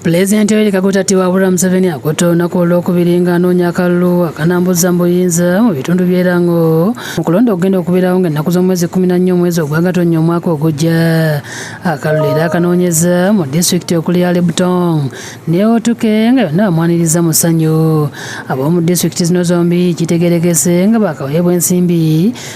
Pulezidenti Yoweri Kaguta Tiwabula Museveni akutte olunaku olwokubiri ng'anoonya akalulu akanambuza mu buyinza mu bitundu by'e Lango mu kulonda okugenda okubeerawo ng'ennaku z'omwezi kumi na nnya omwezi ogwa Gatonnya omwaka ogujja. Akalulu era akanoonyeza mu disitulikiti okuli Yale Butong ne Otuke nga yonna bamwaniriza mu ssanyu. Ab'omu disitulikiti zino zombi kitegeerekese nga baakaweebwa ensimbi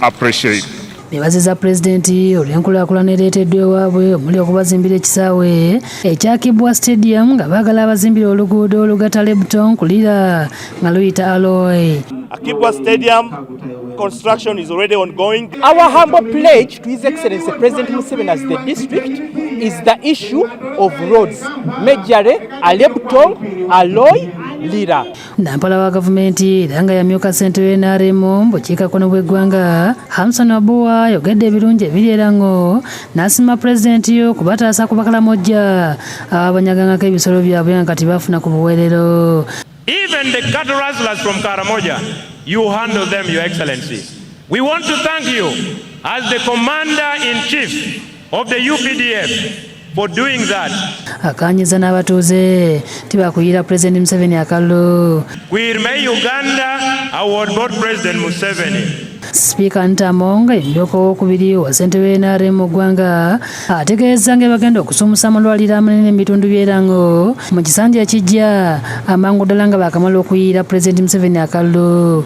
appreciate nebaziza pulezidenti olw'enkulaakulana ereeteddwa ewaabwe omuli okubazimbira ekisaawe ekyakibwa stadium nga baagala abazimbira oluguudo olugatta lebton kulira nga luyita aloy akibwa stadium construction is already ongoing. Our humble pledge to His Excellency President Museveni as the district is the issue of roads, majorly Alebtong, Aloy, Lira. Nampala wa gavumenti era nga yamyuka ssente w'e NRM mu bukiikakkono bw'eggwanga Hamson Abua ayogedde ebirungi ebiri era ng'o n'asiima pulezidenti yo kubataasa ku bakalamojja ababanyagangako ebisolo byabwe nga kati bafuna ku buweerero. Even the cattle rustlers from Karamoja, you handle them, Your Excellency. We want to thank you as the commander in chief of the UPDF for doing that. Akanyiza n'abatuuze tibakuyiira President Museveni akalulu. We remain Uganda award board President Museveni. Sipiika Ntamo nga yemmyuka owokubiri wa ssentebe w'NRM mu ggwanga ategeezza nga ebagenda okusumusa amalwaliro amanene mu bitundu by'erango mu kisanja ekijja amangu ddala nga baakamala okuyiira Pulezidenti Museveni akalulu.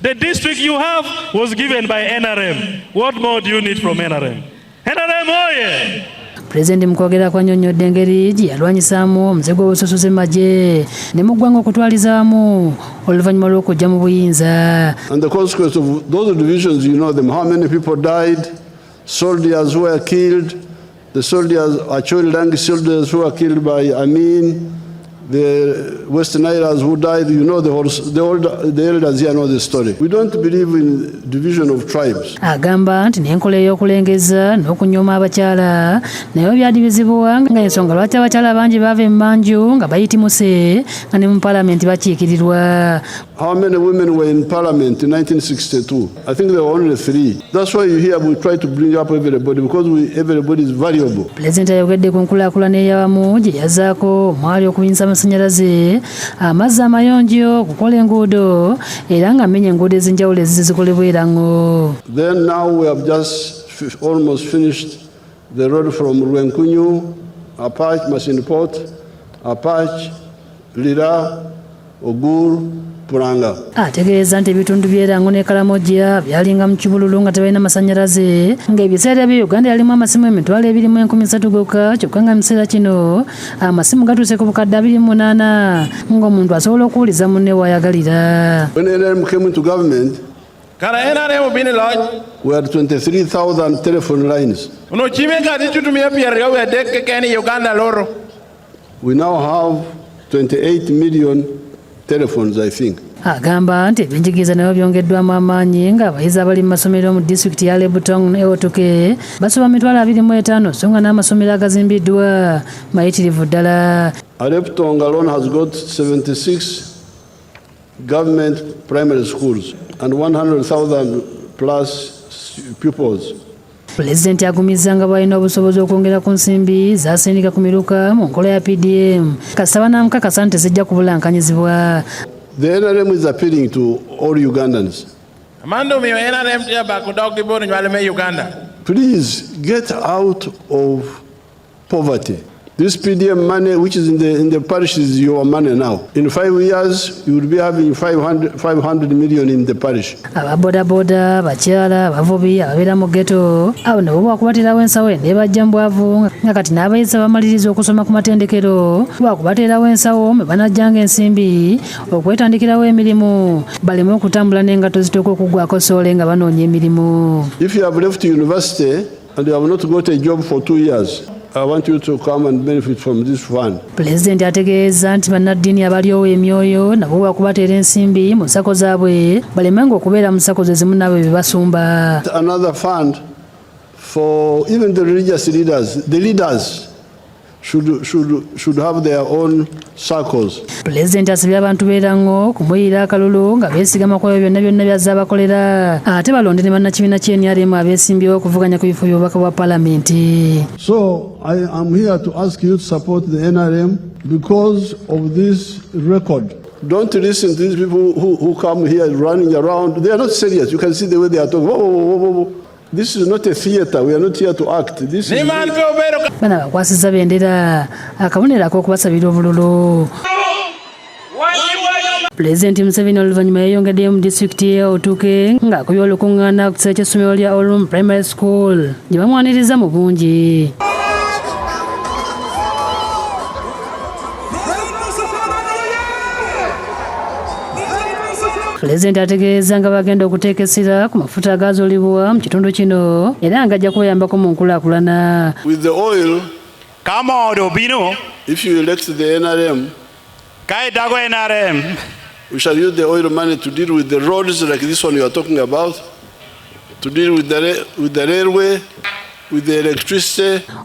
The district you have was given by NRM. What more do you need from NRM? NRM, oh yeah! pulezidenti mu kwogera kwanyonnyodde engeri gye yalwanyisaamu omuze gw'obususuzi mu magye ne mu ggwanga okutwaliza wamu oluvannyuma lw'okujja mu buyinza And the consequence of those divisions, you know them, how many people died, soldiers were killed, The soldiers, Acholi Rangi soldiers who were killed by Amin, the West Nilas who died, you know the, whole, the, old, the elders here know the story. We don't believe in division of tribes. Agamba nti n'enkola ey'okulengeza n'okunyooma abakyala nayo byali bizibuwa nga ensonga lwaki abakyala bangi baava emmanju nga bayitimuse nga ne mu palamenti bakiikirirwa. How many women were in parliament in 1962? I think there were only three. That's why you hear we try to bring up everybody because we, everybody is valuable. Pulezidenti ayogedde ku nkulaakulana eyawamu gye yazaako omwali okuyinza amasannyalaze, amazzi amayonjo, okukola enguudo era nga mmenya enguudo ez'enjawulo ezizikolebwa era ngo. Then now we have just almost finished The road from Rwenkunyu, Apach, Masindi Port, Apach, Lira, Ogur, Puranga. ategeeza nti ebitundu by'erango ne kalamoja byalinga mu kibululu nga tebalina masanyalaze ng'ebiseera bye uganda yalimu amasimu emitwalo ebiri mu enkumi satu gokka kyokka nga mu kiseera kino amasimu gatuuse ku bukadde abiri mu munaana ng'omuntu asobola okuwuliza munne waayagalira When NRM came into government, Kala NRM bini laj. We had 23,000 telephone lines. Uno chime kati chutumia piyarga we adeke keni Uganda loro. We now have 28 million telephones I think. Agamba nti ebyenjigiriza nabyo byongeddwamu amaanyi nga abayizi abali mu masomero mu disitulikiti ya Lebutong ne Otuke basoba mitwalo abiri mu etaano so nga n'amasomero agazimbiddwa mayitirivu ddala. Aleptong alone has got 76 Government primary schools and 100,000 plus pupils Pulezidenti agumizza nga bwalina obusobozi okwongera ku nsimbi zasindika ku miruka mu nkola ya PDM kasita banamukakasa nti tezijja kubulankanyizibwa. The NRM is appealing to all Ugandans. Mandu mi NRM ya bakudogibuni nyalime Uganda. Please get out of Poverty. This PDM money, which is in the, in the parish, is your money now. In five years, you will be having 500, 500 million in the parish. ababodaboda bakyala abavubi ababeera mu geto abo nabo bwakubateerawo ensawo eno ebajja mu bwavu nga kati n'abayizi abamaliriza okusoma ku matendekero bwakubateerawo ensawo mwe banajjanga ensimbi okwetandikirawo emirimu baleme okutambula n'engatto zitooka okuggwako soole nga banoonya emirimu If you have left university, And you have not got a job for two years. I want you to come and benefit from this fund. Pulezidenti ategeeza nti bannaddiini abalyowo emyoyo nabo bakubateera ensimbi mu nsako zaabwe balemenga okubeera mu sako ze zimu naabwe bye basumba. Another fund for even the religious leaders, the leaders should, should, should have their own circles. Pulezidenti asabye abantu beerango kumuyiira akalulu nga beesigama ku ebyo byonna byonna byazze abakolera ate balonde ne bannakibiina kya NRM abeesimbyewo okuvuganya ku bifo by'obubaka bwa palamenti. So I am here to ask you to support the NRM because of this record. Don't listen to these people who, who come here running around. They are not serious. You can see the way they are talking. Whoa, whoa, whoa, whoa. This is not a theater. We are not here to act. This is Bana bakwasiza bendera akabonera ak'okubasabira obululu. Pulezidenti Museveni oluvannyuma yayongeddeyo mu disitulikiti ye Otuke ng'akubye olukuŋŋaana ku kisaawe ky'essomero lya Olum Primary School gye bamwaniriza mu bungi. Pulezidenti ategeeza nga bagenda okuteeka essira ku mafuta agaazulibwa mu kitundu kino era nga ajja kubayambako mu nkulaakulana. With the oil, kama odobino, if you elect the NRM, kaidako NRM, we shall use the oil money to deal with the roads like this one you are talking about. to deal with the, with the railway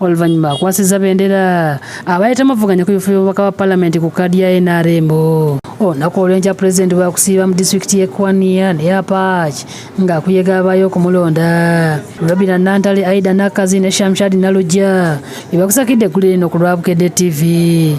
oluvannyuma akwasiza bendera abaali tamuvuganya ku bifo by'obubaka bwa palamenti ku kaadi ya nrm olunaku olwenkya pulezidenti wakusiiba mu disitulikiti y'e kwania neya paaki ng'akuyega abaayo okumulonda robina nantale aida nakazi ne shamshadi nalujja bebakusakidde eggulu lino ku lwa bukedde ttivi